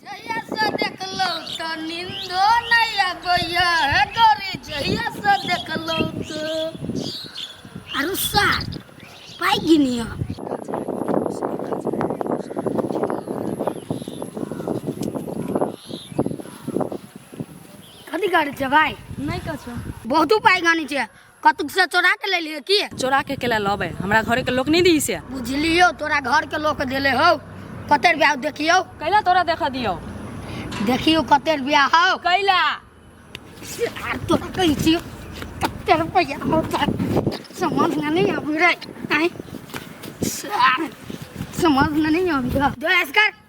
जहियासँ देखलहुँ तऽ निन्दो नहि अबैया हे गौरी जहियासँ देखलहुँ तऽ आरो सार पाइ गिनिया कथी करै छै भाइ नहि कछो बहुतो पाइ गानी छै कतुक से चोरा के ले लिए की चोरा के केला लबे हमरा घर के लोग नहीं दी से बुझलियो तोरा घर के लोग देले हो कतेर ब्याह देखियो कैला तोरा देखा दियो देखियो कतेर ब्याह हो कैला यार तोरा कही छियो कतेर रुपया हो तोरा समझ में नहीं आबी रे आय सार समझ में नहीं आबी दो ऐस कर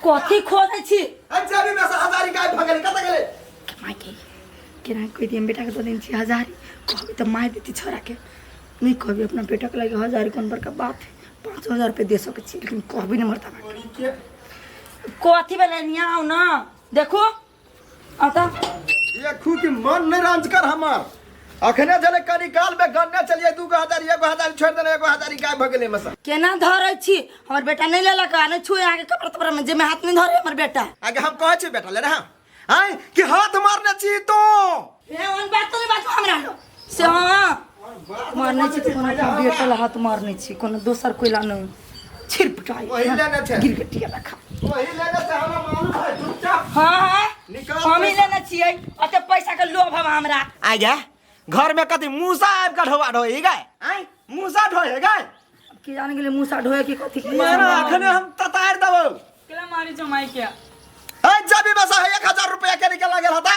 कथी खोदै छी अच्छा अभी मैं हजारी गायब भगल कत गेले माय के केना कोई दिन बेटा के दो दिन छी हजार कहबे तो माय देती छोरा के नहीं कहबे अपना बेटा के लगे हजार कौन बड़का बात है पाँच हजार रुपये दे सके छी लेकिन कहबे नहीं मरता कथी भेलै यहाँ आउ न देखू अतः ये खूब के मन नहीं रांच कर हमार अखने जले करी काल में गन्ने चलिए दू गो हजार एगो हजार छोड़ देना एगो हजार गाय भगले में से केना धरे छी हमर बेटा नहीं लेलक आ नहीं छुए अहाँके कपड़ा तपड़ा में जेमे हाथ नहीं धरे हमर बेटा आगे हम कहे छी बेटा ले रहा आय कि हाथ मारने छी तो ए ओन बात नहीं बात हमरा लो से हां मारने छी तो कोनो अपन बेटा ला हाथ मारने छी कोनो दोसर कोई ला नहीं छिरपटाई वही लेने थे। गिरगटिया रखा वही लेने से हमरा मालूम है चुपचाप हां हां निकाल हम ही पैसा। लेना छियै अते पैसा के लोभ हम हमरा आ जा घर में कथी मूसा आबि के ढोआ ढोई गए आय मूसा ढोए गए की जान गेले मुसा ढोए की कथी की यार अखने हम ततार देबो केला मारी जमाई के ए जबी बस है 1000 रुपया के निकल गेल हता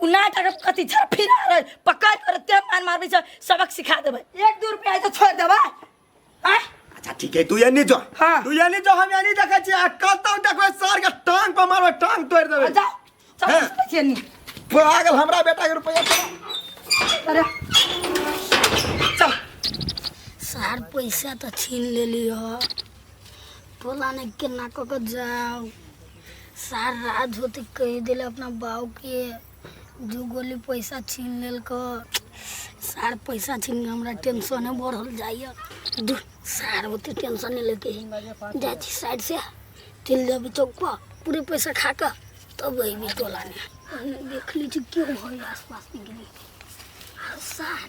उ नाटक अब कथी छा फिरा रहे पकड़ कर ते मार मारबे छ सबक सिखा देबे एक दू रुपया तो छोड़ देबे आय अच्छा ठीक है तू ये नहीं जो हाँ। तू ये नहीं जो हम ये नहीं देखे छी आ कल तक देखबे सर के टांग पर मारबे टांग तोड़ देबे जा चल हाँ। सुतै छियै नी पागल हमरा बेटा के रुपया चला। अरे चल सार पैसा तो छीन लेली हो टोला ने केना कऽ कऽ जाउ सारा धोती कह दिल अपना बाऊ के दू गोली पैसा छीन लेल को सार पैसा छीन हमरा टेंशन है बढ़ल जाइए दू सार होते टेंशन नहीं लेके जा छी साइड से चल जाबी चौक पर पूरे पैसा खा कर तब अबी टोला में देख लीजिए क्यों हो आसपास में गिरी सार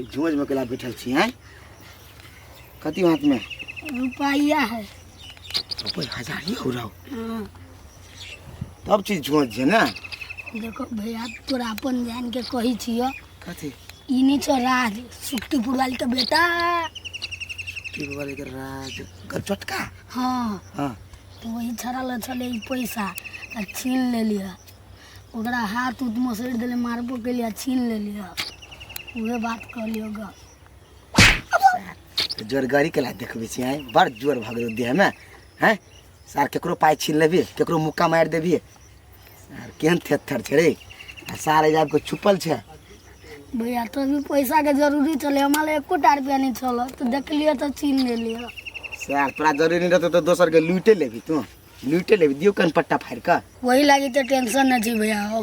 ई झोज में केला बैठल छी हैं कथी हाथ में रुपया है कोई हजार ही हो रहा हो हाँ, तब चीज झोज है ना देखो भैया तोरा अपन जान के कही छियो कथी ई नहीं छो राज सुक्तिपुर वाली के बेटा टीवी वाले के राज कर चटका हाँ हाँ तो वही छड़ल छले ई पैसा आ छीन ले लिया ओकरा हाथ उत मसरि देले मारबो केली आ छीन लेली ह उहे बात कहली होगा जोर गाड़ी के ला देखबे छी आय बड़ जोर भग गेल देह में हैं सार केकरो पाय छीन लेबी केकरो मुक्का मार देबी आर केहन थेथर छै रे आ सार एजाब के छुपल छै भैया तो भी पैसा के जरूरी चले हमारे एको टा रुपया नहीं चल तो देखलिए तो छीन लेली ह सार तोरा जरूरी नहीं रहतो तो दोसर के लूटे लेबी तू लूट ले दियो कन पट्टा फाड़ का वही लागी तो टेंशन न छी भैया हो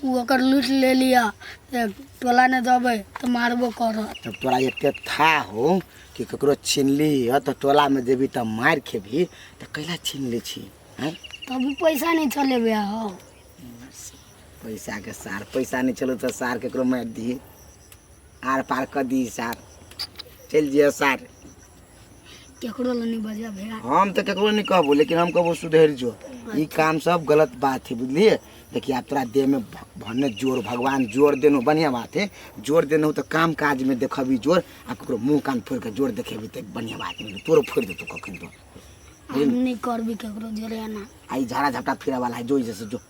उ ओकर लूट ले लिया ते टोला ने दबे तो मारबो कर तब तोरा एते था हो कि ककरो छीनली ह तो टोला में देबी त मार खेबी त कैला छीन ले छी हैं तब भी पैसा नहीं चले भैया हो पैसा के सार पैसा नहीं चलो तो सार केकरो मार दी आर पार कर दी सार चल जियो सार केकरो लग नहीं बजा भैया हम तो केकरो नहीं कहबो लेकिन हम कहबो सुधर जो ई काम सब गलत बात है बुझलिए देखिए आप तोरा देह में भ- भने जोर भगवान जोर देनो बढ़िया बात है जोर देनो तो काम काज में देखबी जोर आ ककरो मुंह कान फोड़ के जोर देखेबी तो बढ़िया बात है तोरो फोड़ देतो कखन तो हम नहीं करबी केकरो जोरे ना आई झाड़ा झपटा फिरा वाला है जो जैसे जो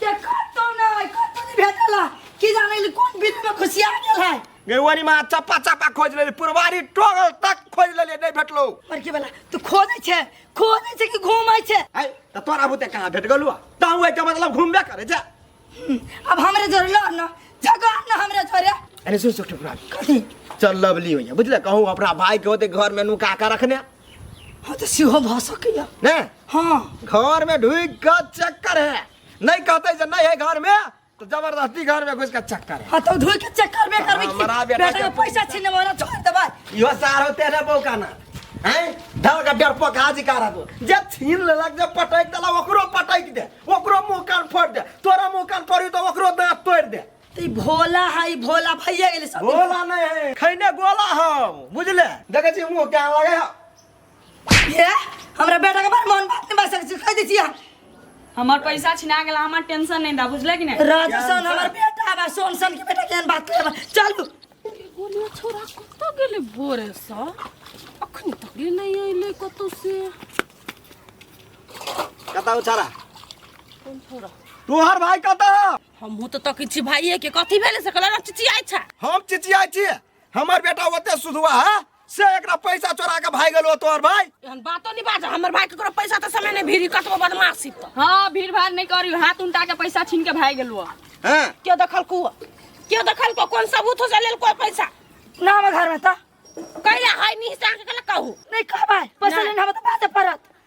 के कतो ना है कतो नहीं भेटला की जाने ले कौन बिल में खुशिया गेल है गेवनी माँ चप्पा चप्पा खोज लेली पुरवारी टोगल तक खोज लेली नहीं भेटलो पर के वाला तू खोजे छे खोजे छे कि घूमै छे आई तो तोरा बुते कहाँ भेट गलुआ ताऊ है मतलब घूमबे करे जा हम्म, अब हमरे जोरे लो ना जगह ना हमरे जोरे अरे सुन सुख टुकड़ा कथी चल लवली होइए बुझल कहूँ अपना भाई के होते घर में नुका के रखने हाँ तो सेहो भऽ सकैया ने हाँ घर में ढुकि के चक्कर है नहीं कहते जे नहीं है घर में तो जबरदस्ती घर में घुस के चक्कर है हाँ तो धोई के चेक करबे करबे की हमरा बेटा बेटा के के- पैसा छीने वाला छोड़ देबै इहो सार होते ना बौका ना हैं धल के डर पका जी करा दो जे छीन लेलक जे पटक देलक ओकरो पटक दे ओकरो मुंह कान फोड़ दे तोरा मुंह कान फोड़ी तो ओकरो दांत तोड़ दे ई भोला है ई भोला भैया गेले सब भोला नहीं है खैने गोला हम बुझले देखे छी मुंह क्या लगे है ये हमरा बेटा के बारे मन बात नहीं बस से कह दी छी हम हमार पैसा छिना गेला हमार टेंशन नहीं दा बुझले कि नहीं राजसन हमर बेटा बा सोनसन के बेटा केन बात करे बा चल तू गोलिया छोरा कत गेले बोरे सा अखन तक ये नहीं आइले कतौ से कता उछारा कौन छोरा तोहर भाई कता हमहूँ तऽ तकै छी भाइये के कथी भेलै से कहलक चिचियाइ छै हम चिचियाइ छी हमर बेटा ओते सुधुआ है से एकरा पैसा चोरा के भाग गेलो तोहर भाई एहन बातो नहीं बाज हमर भाई ककरो पैसा तऽ समय नहि भीड़ी कतबो बदमाशी तऽ हाँ भीड़ भाड़ नहीं करी हाथ उनटा के पैसा छीन के भाग गेलुआ हैं केओ देखलकू केओ देखलकू कोन सबूत हो से लेल कोई पैसा ना हमर घर में त कैला है निशान के कहलक कहू नहीं कहबै पैसा नहीं। लेना हम त बाते परत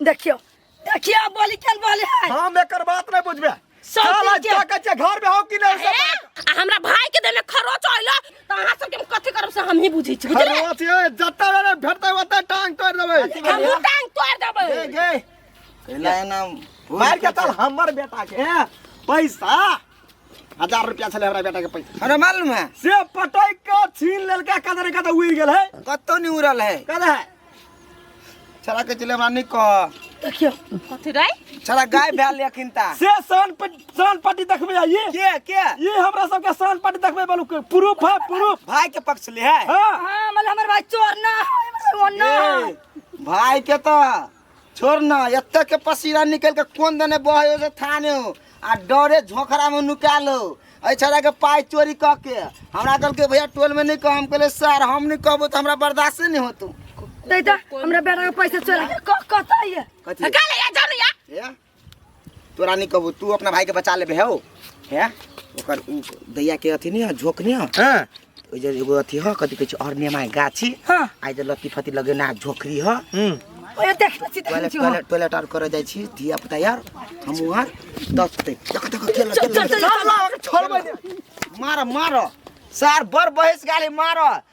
देखियो देखियो बोली केन बोले है हम एकर बात नहीं बुझबे सब साला दिन के- जाके जे घर में हो कि नहीं सब ए, आ हमरा भाई के देने खरोच आइलो त अहाँ सब के हम कथि करब से हम ही बुझै छी बुझले खरवाच ये जत्ता वाला भेटता होता टांग तोड़ देबे हम मुंह टांग तोड़ देबै गे गे कैला एना मार के चल हमर बेटा के पैसा हजार रुपया छले हमरा बेटा के पैसा हमरा मालूम है से पटै के छीन लेलका कदर कदर उड़ गेल है कत्तो नहीं उड़ल है कदर है छड़ा के चले हमरा नहीं कह देखियो कथी रे छड़ा गाय भैल लेकिन ता से सान पट सान पट्टी देखबे आइए के के ये हमरा सबके सान पट्टी देखबे बोलू के प्रूफ है प्रूफ भाई के पक्ष ले है हां हां मतलब हमर भाई चोर ना है, हमर भाई वो ना है। ए, भाई के तो छोड़ ना एते के पसीना निकल के कोन दने बहे से थाने हो आ डरे झोखरा में नुका लो ऐ छड़ा के पाई चोरी क के हमरा कल के भैया टोल में नहीं कह हम कहले सर हम नहीं कहबो तो हमरा बर्दाश्त नहीं होतो दे दे हमरा बेटा के पैसा चोरा के क- कतऽ ये कथी काले या जानु या ए तोरा नहीं कहबो तू अपना भाई के बचा लेबे हो हैं ओकर उ दैया के अथी नहीं है झोंक नहीं है हाँ ओइ जे एगो अथी है कथी कहै छै अरनेमा के गाछी हाँ आइ जे लत्ती फत्ती लगेना झोकरी है हम्म ओए देख ले छी देख ले टॉयलेट छी टॉयलेट टॉयलेट आर करे जाइ छी धिया पुता यार हमहू आर दस ते देख देख खेल चल, चल, चल, चल। मार मार सार बर बहस गाली मार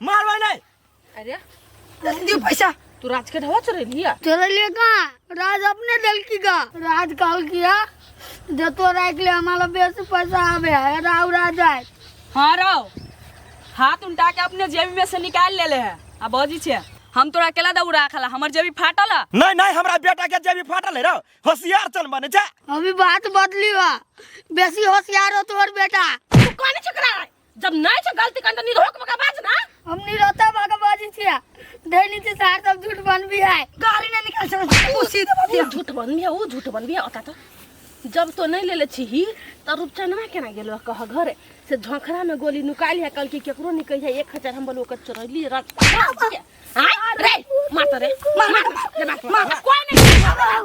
मारवा नहीं अरे दियो पैसा तू राज के ढवा चोरे लिया चोरे लिया का राज अपने दिल की का राज कॉल किया जो तो राख ले हमारा बेस पैसा आवे है राव राज आए हाँ राव हाथ उल्टा के अपने जेबी में से निकाल ले ले है आ बजी छे हम तोरा अकेला दऊ राखला हमर जेबी फाटल है नहीं नहीं हमरा बेटा के जेबी फाटल है रे होशियार चल बने जा अभी बात बदली बा बेसी होशियार हो तोहर बेटा तू कौन चकरा जब नहीं छे गलती करन त निरोक बका बाज ना हम नहीं रहता बागा बाजी छिया धैनी से सार सब झूठ बन भी है गाली ना निकाल छे तू सीधे बात ऊ झूठ बन बिया ऊ झूठ बन बिया ओता त जब तो नहीं लेले छी ही त रूपचनवा केना गेलो कह घरे से झोंखरा में गोली नुका लिया कल की केकरो नहीं कहिया एक हजार हम बोलो कर चोरैली रत हां रे मार त रे मार मार रे, मार मार कोई नहीं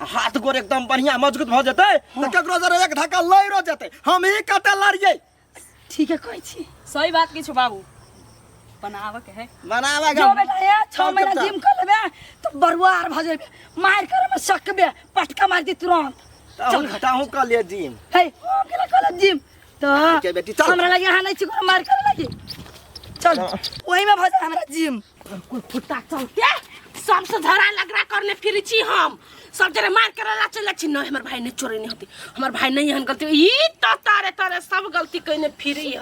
आ हाथ गोड़ एकदम बढ़िया मजबूत भऽ जेतै तऽ ककरो जरे एक धक्का लैरो जेतै हम ही कतऽ लड़ियै ठीके कहै छी सही बात किछु बाबू बनाबऽ के है बनाबे जो बेटा हे छः महीना जिम कर लेबे तो बरुआर भऽ जेबे मार करे में सकबे पटका मार दी तुरंत चल घटाहू कऽ लिअ जिम हे हम केला कहले जिम तो ठीक है बेटी, चल। हमरा लगे यहाँ नहीं छी कोनो मार करे लगी चल ओही में भऽ जाए हमरा जिम कोई कुत्ता चलते सबसे झगड़ा लगड़ा करने फिर छी हम सब जरे मार कर ला चले छी नहीं हमर भाई ने चोरी नहीं होती हमर भाई नहीं हन गलती ई तो तारे तारे सब गलती कइने फिर है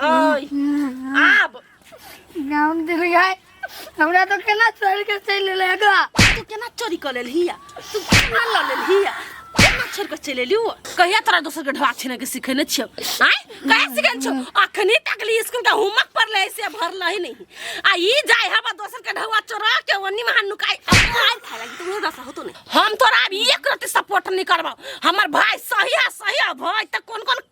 आब नाम दिल गए हमरा तो केना चोरी के चल लेगा तू केना चोरी कर लेलही तू केना लऽ लेलही केना छोड़ के चलि एलियो कहिया तोरा दोसर के ढवा छीने के सिखेने छियो आय कहिया सिखेने छियो अखनी तक ली स्कूल का होमवर्क पर ले से भरल ही नहीं आ ई जाय हवा दोसर के ढवा चोरा के ओनी में हाथ नुकाई आय खाए लगी तू दसा होतो नहीं हम तोरा अब एक रति सपोर्ट नहीं करबो हमर भाई सही है सही है भाई त कोन कोन